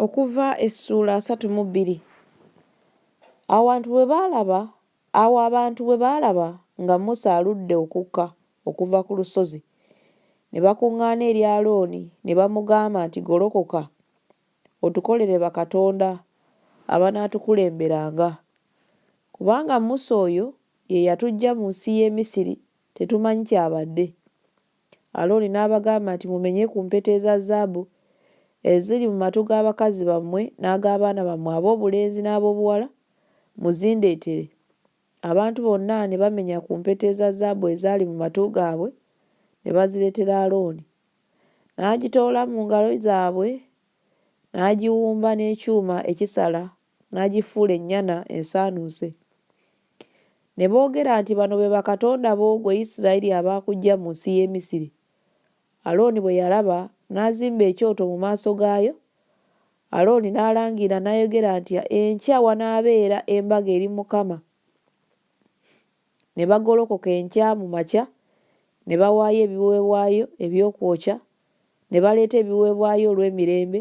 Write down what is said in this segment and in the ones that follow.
Okuva essuula asatu mu bbiri Awantu bwe baalaba Awo abantu bwe baalaba nga Musa aludde okukka okuva ku lusozi, ne bakuŋŋaana eri Alooni ne bamugamba nti, Golokoka, otukolere bakatonda abanaatukulemberanga, kubanga Musa oyo ye yatuggya mu nsi y'e Misiri tetumanyi ky'abadde. Alooni n'abagamba nti, Mumenye ku mpeta eza zaabu eziri mu matu ga bakazi bammwe n'ag'abaana bammwe ab'obulenzi n'ab'obuwala, muzindeetere. Abantu bonna ne bamenya ku mpeta eza zaabu ezaali mu matu gaabwe, ne bazireetera Alooni. N'agitoola mu ngalo zaabwe, n'agiwumba n'ekyuma ekisala n'agifuula ennyana ensaanuuse. Ne boogera nti, Bano be bakatonda bo, gwe Isirayiri, abaakuggya mu nsi y'e Misiri. Alooni bwe yalaba, n'azimba ekyoto mu maaso gaayo. Alooni n'alangira n'ayogera nti, Enkya wanaabeera embaga eri Mukama. Ne bagolokoka enkya mu makya, ne bawaayo ebiweebwayo eby'okwokya, ne baleeta ebiweebwayo olw'emirembe,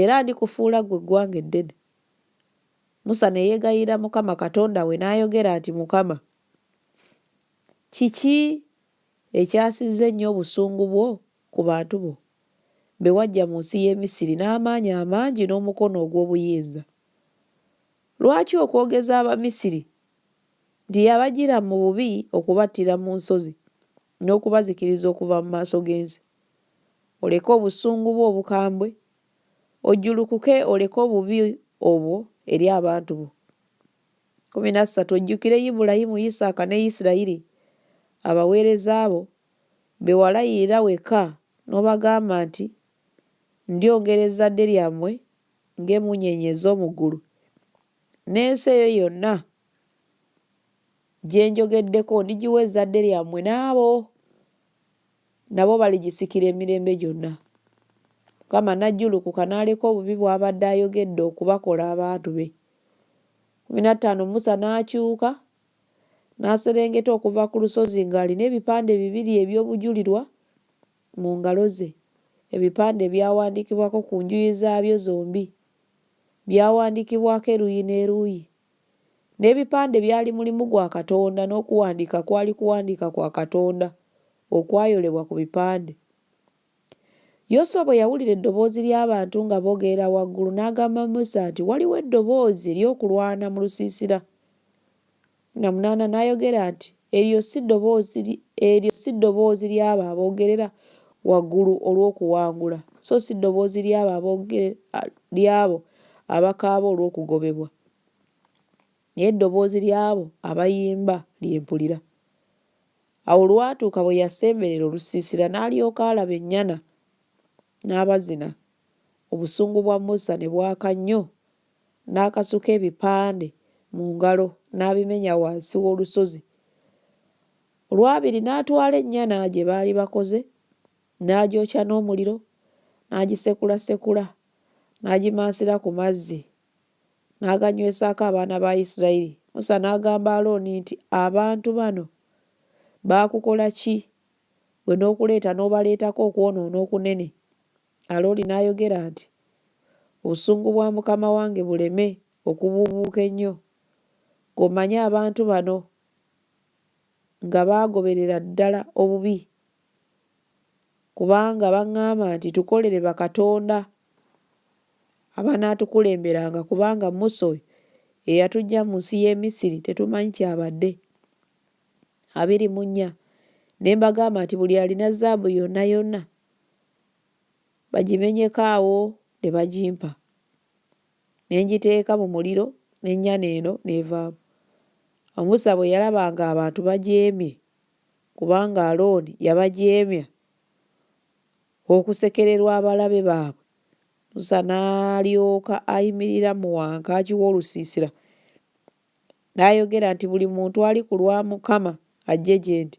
era ndikufuula ggwe eggwanga eddene. Musa ne yeegayirira Mukama Katonda we n'ayogera nti, Mukama, kiki ekyasizza ennyo obusungu bwo ku bantu bo be waggya mu nsi y'e Misiri n'amaanyi amangi n'omukono ogw'obuyinza? Lwaki okwogeza Abamisiri nti yabajjira mu bubi okubattira mu nsozi n'okubazikiriza okuva mu maaso g'ensi? oleke obusungu bwo obukambwe, ojjulukuke oleke obubi obwo eri abantu bo. Kumi na ssatu ojjukire Ibulayimu, Isaaka ne Isirayiri abaweereza bo be walayirira wekka n'obagamba nti, Ndyongera ezzadde lyammwe ng'emmunyeenye ez'omu ggulu, n'ensi eyo yonna gye njogeddeko ndigiwa ezzadde lyammwe n'abo nabo baligisikira emirembe gyonna. Mukama n'ajjulukuka n'aleka obubi bw'abadde ayogedde okubakola abantu be. Kumi na ttaano Musa n'akyuka n'aserengeta okuva ku lusozi ng'alina ebipande bibiri eby'obujulirwa mu ngalo ze. Ebipande byawandiikibwako ku njuyi zaabyo zombi, byawandiikibwako eruuyi n'eruuyi. N'ebipande byali mulimu gwa Katonda, n'okuwandiika kwali kuwandiika kwa Katonda okwayolebwa ku bipande. Yoswa bwe yawulira eddoboozi ly'abantu nga bogeera waggulu, n'agamba Musa nti, Waliwo eddoboozi ery'okulwana mu lusiisira. Namunaana n'ayogera nti, Eryo si ddoboozi, eryo si ddoboozi ly'abo aboogerera waggulu olw'okuwangula, so si ddoboozi ly'abo abooge, ly'abo abakaaba olw'okugobebwa, naye ddoboozi ly'abo abayimba lye mpulira. Awo olwatuuka bwe yasemberera olusiisira n'alyoka alaba ennyana n'abazina, obusungu bwa Musa ne bwaka nnyo n'akasuka ebipande mu ngalo n'abimenya wansi w'olusozi. Olwabiri n'atwala ennyana gye baali bakoze n'agyokya n'omuliro n'agisekulasekula n'agimansira ku mazzi n'aganywesaako abaana ba Isirayiri. Musa n'agamba Alooni nti, Abantu bano baakukola ki ggwe n'okuleeta n'obaleetako okwonoona okunene? Alooni n'ayogera nti, Obusungu bwa mukama wange buleme okubuubuuka ennyo, ng'omanyi abantu bano nga baagoberera ddala obubi, kubanga baŋŋamba nti, Tukolere bakatonda abanaatukulemberanga, kubanga Musa oyo eyatuggya mu nsi y'e Misiri tetumanyi ky'abadde. Abiri mu nnya Ne mbagamba nti, Buli alina zaabu yonna yonna, bagimenyeko awo ne bagimpa ne ngiteeka mu muliro n'ennyana eno n'evaamu. Awo Musa bwe yalaba ng'abantu bajeemye kubanga Alooni yabajeemya okusekererwa abalabe baabwe, Musa n'alyoka ayimirira mu wankaaki w'olusiisira n'ayogera nti, Buli muntu ali ku lwa Mukama ajje gye ndi.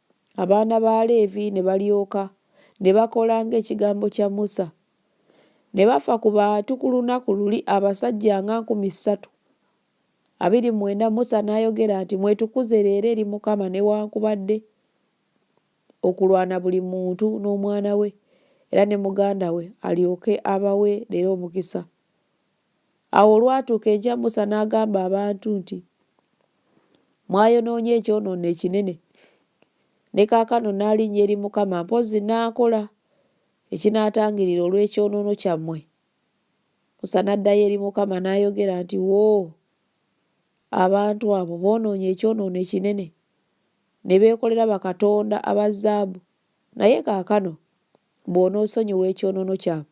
Abaana ba Leevi ne balyoka ne bakola ng'ekigambo kya Musa. Ne bafa ku bantu ku lunaku luli abasajja nga nkumi ssatu. Abiri mwenda Musa n'ayogera nti, Mwetukuze leero eri Mukama newankubadde okulwana buli muntu n'omwana we era ne muganda we alyoke abawe leero omukisa. Awo olwatuuka enkya Musa n'agamba abantu nti, Mwayonoonye ekyonoono ekinene. Ne kaakano naalinnya eri Mukama mpozzi naakola ekinaatangirira olw'ekyonoono kyammwe. Musa n'addayo eri Mukama n'ayogera nti, Woo! Abantu abo boonoonye ekyonoono ekinene, ne beekolera bakatonda aba zaabu, naye kaakano bw'onoosonyiwa ekyonoono kyabwe,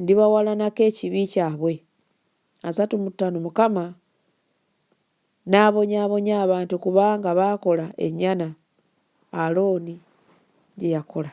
ndibawalanako ekibi kyabwe. Asatu mu ttaano Mukama n'abonyaabonya abantu kubanga baakola ennyana Alooni gye yakola.